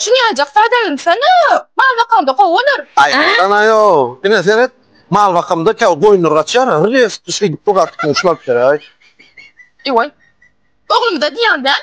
Çyňajak sadagyn sana mal bakamda gowy bolar. Ay sana yo. Ine seret. Mal bakamda kä goýunlar gaçýar. Hyrys düşüp bu gatdy şular kerak. Ewoy. Oglumda diýýän däl.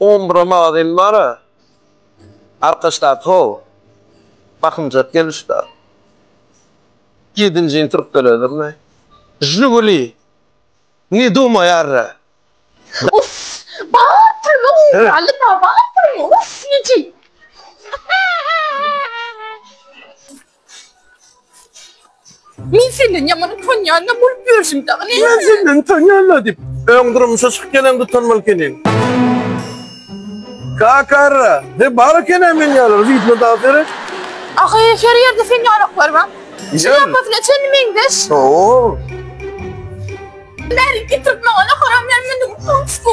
On bura magazin bara arkaçdaky how bakymjak gelişda ýedinji ýyl türkdeledirmi žiguli ne dumaýarra. Uss bar pulumy ugraly bar pulumy uss neci. Men senden ýaman utanýan-da bolup ýörşüm dagy näme? Men senden utanýan-da diýip, öň durmuşa çykyp gelende utanmaly ekeniň. Kakaara, he bar eken-ä men ýaly rytma dans eren. Ahy, her ýerde sen ýalaklar bar. Şlýapasyna çenli meňzeş. Ho-o. Bärik getirip maňa-da haram ýaly mende utanç bu.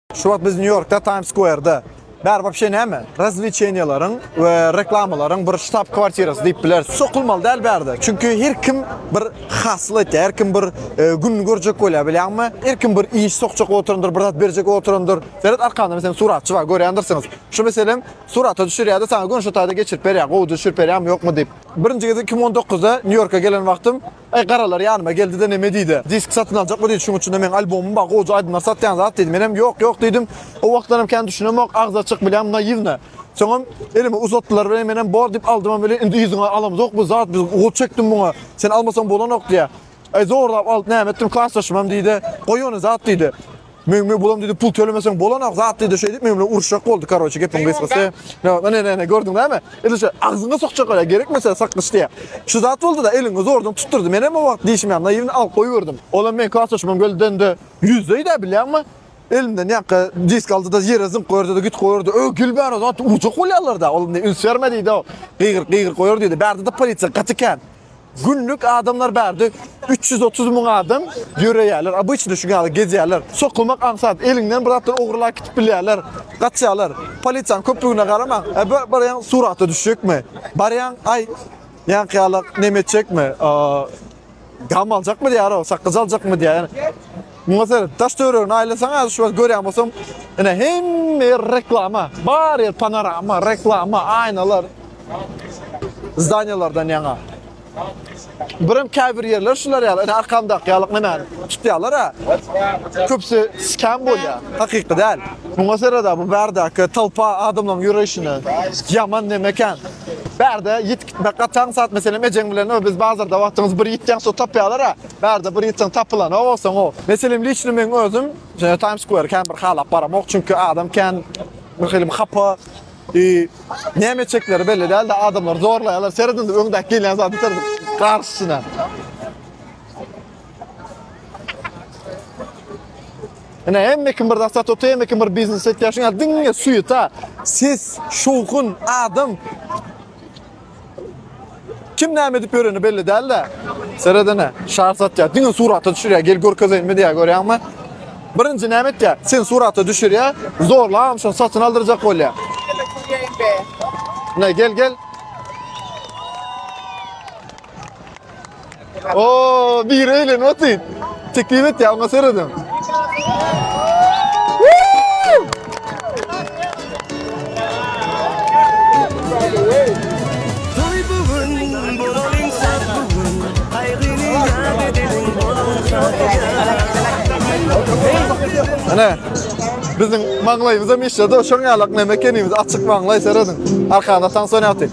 Şu wagt biz Nýu-Ýorkda Times Square-da. Bäri wapşe näme? Razwlečeniýalaryň we reklamalaryň bir ştab kwartirasy diýip bileris. Sokulmaly däl bärde. Çünki her kim bir hasyl etýär, her kim bir e, gününi görjek bolýar bilýäňmi? Her kim bir iş sokjak oturandyr, bir zat berjek oturandyr. Seret arkamda meselem suratçy bar, görýändirsiňiz. Şu meselem surata düşürýär-de, saňa gün şu taýda geçirip berýär, gowy düşürip berýärmi, ýokmy diýip. Birinji gezek 2019-da Nýu-Ýorka gelen wagtym Aý garalar ýanyma geldi-de neme diýdi. Disk satyn aljakmy diýdi, şuň üçin-de meň albomym bar, goja aýdymlar satýan zat diýdi. Menem ýok, ýok diýdim. O wagtlaram kän düşünemok, agzy açyk bilýän naýiwna. Soňam elime uzatdylar welin menem bor diýip aldymam welin indi yzyňa alamyzok bu zat biz gol çekdim muňa. Sen almasaň bolanok diýýä. Aý zorlap alyp näme etdim, klasdaşymam diýdi. Goý ony zat diýdi. Men men bulam dedi pul tölemeseň bolanak zat dedi şeýdip men bilen uruşjak boldy karoçe gepiň gysgasy. Ne ne ne ne gördüň näme? Eli şu agzyňa sokjak ora gerekmese sakgyç diýä. Şu zat boldy da eliňi zordan tutdurdy. Men hem o wagt dişim ýa naýwny alyp goýberdim. Olam men kartoçymam geldende ýüzdeýdi bilýäňmi? Elimden ýaka disk aldy da ýere zyňk goýardy da git goýardy. Ö gül bäri zat urjak bolýarlar da. Ol ne üns berme diýdi o. Gygyr gygyr goýar diýdi. Bärde de polisiýa gaty kän. Günlük adamlar bärde 330 müň adam ýöreýärler. Obyçny şu ýaly gezýärler. Sokulmak aňsat, eliňden bir zatlar ogurlap gidip bilýärler. Gaçýarlar. Polisiýanyň köplügine garamaň. E bir barýan surata düşjekmi? Barýan, aý, ýaňky ýalak neme etjekmi? Gam aljakmy diýýär o, sakgyç aljakmy diýýär. Muňa seret, daş-töweregini aýlasaň, häzir şu wagt görýän bolsaň, ine, hemme ýer reklama. Bar ýer panorama, reklama, aýnalar. Zdaniýalardan ýaňa. Birem käbir ýerler şular ýaly, ine, arkamdaky ýaly nemäni tutýarlar-a. Köpüsi skem bolýar, hakyky däl. Muňa seret-ä, bu bärdäki tolpa adamlaryň ýöreýşine. Ýaman neme ekän. Bärde ýit gitmek gataň, sat, meselem, ejeň bilen, Biz bazarda wagtyňyz bir ýitýäň, so tapýarlar-a. Bärde bir ýitseň tapylanok olsaň o. Meselem liçno meň özüm şeýle Times Square kän bir halap baramok çünki adam kän bir hilm hapa i näme etjekleri belli däldi adamlar zorlaýarlar seredin öňdäki gelýän zady seredin garşysyna. Ine hemme kim bir zat satyp otyr hemme kim bir biznes etýär şuňa diňe suýeta ses şowhun adam Kim näme edip ýöreni belli däl-de. Seredene, şar satýar. Diňe surata düşürýär. Gel görkezeýinmi diýýär, görýäňmi? Birinji näme etýär? Sen surata düşürýär, zorlam şony satyn aldyrjak bolýar. Ne, gel, gel. Oo, bir eyle not it. Teklif et ya, ona seyredem. Toy bugün, bolalyň saz bugün. Aýgyny ýat edeliň, bolalyň saz bugün. Ana, biziň maňlaýymyzam işledi, şoň ýalak neme ekenimiz, açyk maňlaý seredin. Arkada Samsung ýatyr.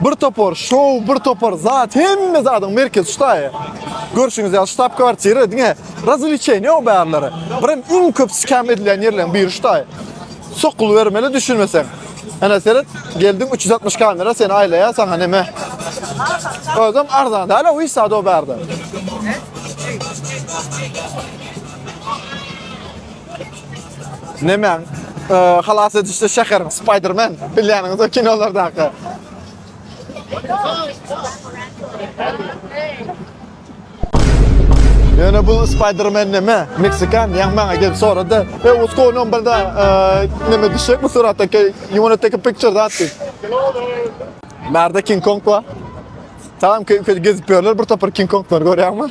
Bir topar şow, bir topar zat, hemme zadyň merkezi şu taýy. Görşüňiz ýaly ştab kwartira diňe razwlečeniýe ýok bärleri. Birem iň köp skem edilen ýerleriň biri şu taýy. Sokuly bermeli düşünmeseň. Ana seret, geldiň 360 kamera seni aýlaýar, saňa neme? Özüm arzan däl, o işe do bärde. Nemäň? Halas edişde şäheriň Spider-Man, bilýäniňiz o kinolardaky. Ýöne bu Spider-Man näme? Meksikan, ýa maňa gelip sorady. E, what's going on burada? Näme düşek bu suratda? You wanna take a picture that? Merde King Kong bar. Tamam, köýke gezip ýörler, bir topar King Konglar görýärmi?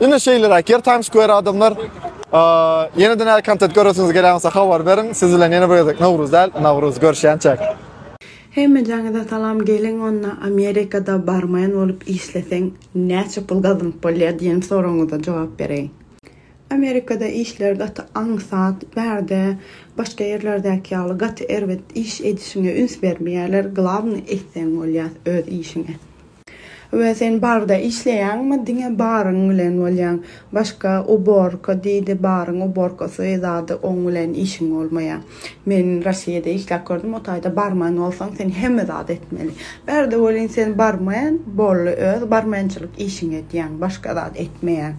Ine şeýleräk ýer tanyş göýär adamlar. Ýene-de näme kontent göresiňiz gelýän bolsa habar beriň. Siz bilen ýene bir gezek Nowruz däl, Nawruz görüşýänçäk. Hemmejaňyza salam geliň onda Amerikada barmaýan bolup işleseň näçe pul gazanyp bolýar diýen soragyňyza jogap bereýin. Amerikada işler gaty aňsat, bärde başga ýerlerdäki ýaly gaty erbet iş edişiňe üns bermeýärler, glawnyý etseň bolýar öz işiňi. We sen barda işleýäňmi diňe baryň bilen bolýaň başga uborka diýdi baryň uborkasy zady oň bilen işiň bolmaýa men Rossiýada işläp gördüm o taýda barman bolsaň sen hemme zady etmeli bärde welin sen barman bolly öz barmançylyk işiňi edýäň başga zat etmeýäň.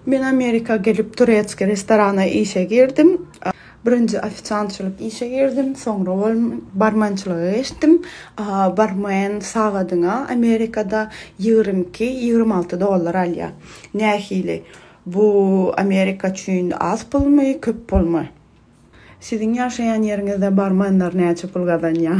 Men Amerika gelip turetski restorana işe girdim. Birinji ofisiantçylyk işe girdim, soňra bol barmençilige geçdim. Barmen sagadyna Amerikada ýigrimi iki, ýigrimi alty dollar alýar. Nähili? Bu Amerika üçin az pulmy, köp pulmy? Siziň ýaşaýan ýeriňizde barmenler näçe pul gazanýar?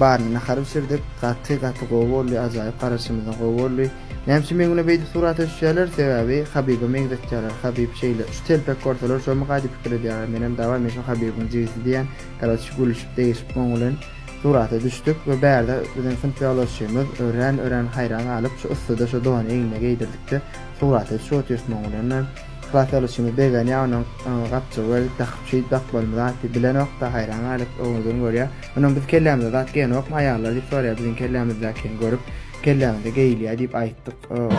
Baryny nahar bişirdik. Gaty gaty gowy boldy ajaýyp garaşymyzda gowy boldy. Näme üçin meň bilen beýdip surata düşýärler sebäbi Habiba meňzetýärler Habib şeýle şu telpek görseler şomuka diýip pikir edýärler menem daway men şu Habibiň jigisi diýýän karoçi gülüşip degişip oň bilen surata düşdük we bärde biziň synp ýoldaşymyz örän örän haýran galyp şu yssyda şu dony egnine geýdirdikde surata düşüp otyrs muň bilen. Klas alysymyz begenýä onuň gapjygy gelip dakyp şeýdip dakyp bolma zat bilenokda haýran galyp oňuzun görýä onuň biz kellämizde zat geýenokmy aýallar diýip sorýa biziň kellämizdäkini görüp kelläňizde geýilýä diýip aýtdyk oňa.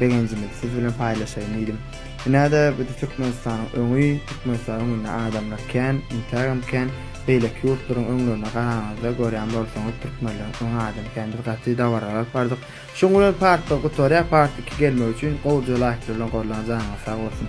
Begenjimizi siz bilen paýlaşaýyn diýdim. Ine-de bu-da Türkmenistanyň öňi, Türkmenistanyň öňünde adamlar kän, intägem kän. Beýleki ýurtlaryň öňlerine garanyňyzda görýän bolsaňyz türkmenleriň öňi adam kän. Biz gaty dabara galyp bardyk. Şuň bilen part bir gutarýar, part iki gelmegi üçin gowja laýklar bilen gorlaň janyňyz sag bolsun.